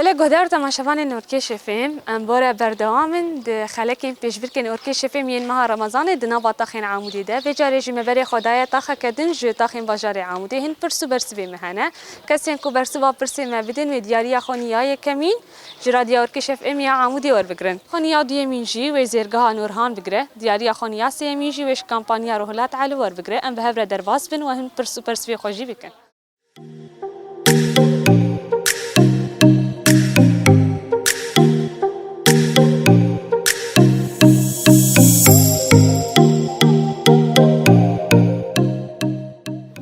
Belê guhdar temaşevanên Orkêşê Fêm, em bore berdewam in di xelekên pêşbirkên Orkêşê Fêm yên meha Remezanê di nava taxên Amûdê de. Vê carê jî me berê xwe daye taxeke din ji taxên bajarê Amûdê. Hin pirs û bersivê me hene. Kesên ku bersiva pirsê me bidin wê diyariya xwe niya yekemîn ji Radya Urkiş FM ya Amûdê werbigrin. Xwe niya duyemîn jî wê Zêrgeha Nurhan bigire. Diyariya xwe niya sêyemîn jî wê ji Kampanya Ruhilat Elî werbigire. Em bi hev re derbas bin û hin pirs û persivê xwe jî bikin.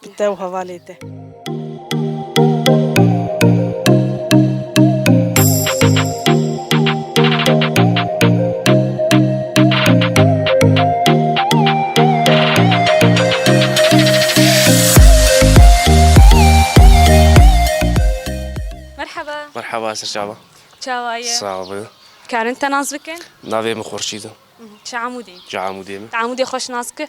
Bi te û hevalê te. Merhaba Esir Çaba. Çawa ye? Sağ ol. Karin te nas bikin? Navê min Xurşîd e. Çi amûdê? Çi amûdê min? Te amûdê xweş nas ki?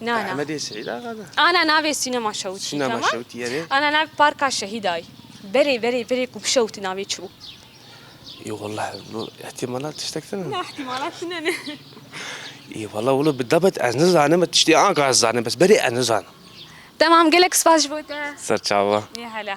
Na na. Hemedê Seîd Axa da. Ana navê Sînema Şewtî. Sînema Şewtî erê. Ana navê Parka Şehîdayî. Berê berê berê ku bişewti navê çi bû? Î walla wilo îhtîmalat tiştek tune. Na îhtîmalat tune ne. Î walla wilo bi debet ez nizanim me tiştê anka ez zanim bes berê ez nizanim. Temam gelek spas ji bo te. Serçava. Yê hele.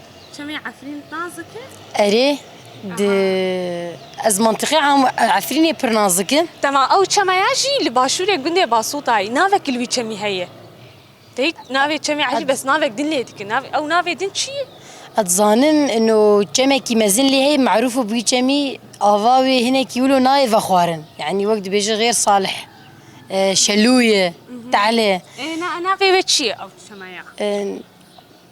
Çemê Efrîn nazik e? Erê, di ez mentiqê Efrînê pir nazik e. Tema ew çema ya jî li başûrê gundê Basûtayê navek li wî çemî heye. Tê navê çemê Elî bes navek din lê dikin. Nav ew navê din çi ye? Ez dizanim ino çemekî mezin lê heye merûf û bi wî çemî ava wê hinekî wilo nayê vexwarin. Yanî wek dibêje Xêr Salih, Şelûye, Tehlê. Ê na navê wê çi ye ew çema ya?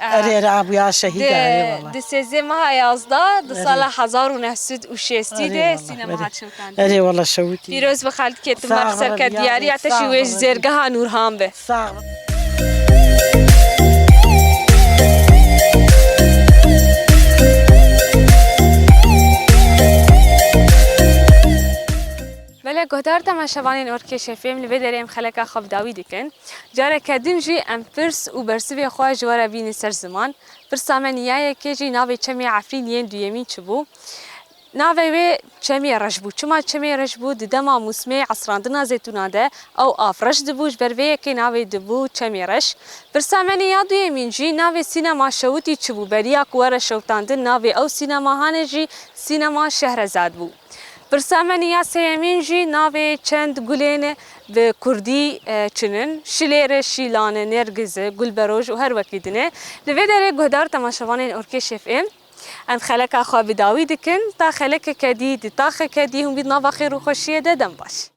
Erê re bûya şehîd e erê wala. Di sêzdeh meha yazdeh di sala hezar û neh sed û şêstî de sînema hat şewitandin. Erê wala şewitî. Pîroz bi xelkê tu merg ser ke diyariya te jî wê ji zêrgeha Nûrhan be. Sax be. Mele guhdar tema şevanên orkêşê fêm li vê derê em xeleka xwe bi dawî dikin. Careke din jî em pirs û bersivê xwe ji we re bînin ser ziman. Pirsa me niya yekê jî navê çemê Efrîn yên duyemîn çi bû? Navê wê Çemê Reş bû. Çima Çemê Reş bû? Di dema mûsimê esrandina zêtûnan de ew av reş dibû ji ber vê yekê navê dibû Çemê Reş. Pirsa me niya duyemîn jî navê sînema Şewitî çi bû? Beriya ku were şewitandin navê ew sînemahanê jî Sînema Şehrezad bû. Pirsa me niya sêyemîn jî navê çend gulên bi kurdî çin in, şilêre, şîlane, nergize, gulberoj û her wekî din e. Li vê derê guhdar temaşevanên Orkêşef ê. Em xeleka xwe bi dawî dikin, ta xelekeke dî di taxeke dî hûn bî di nava xêr û xweşiyê de dem baş.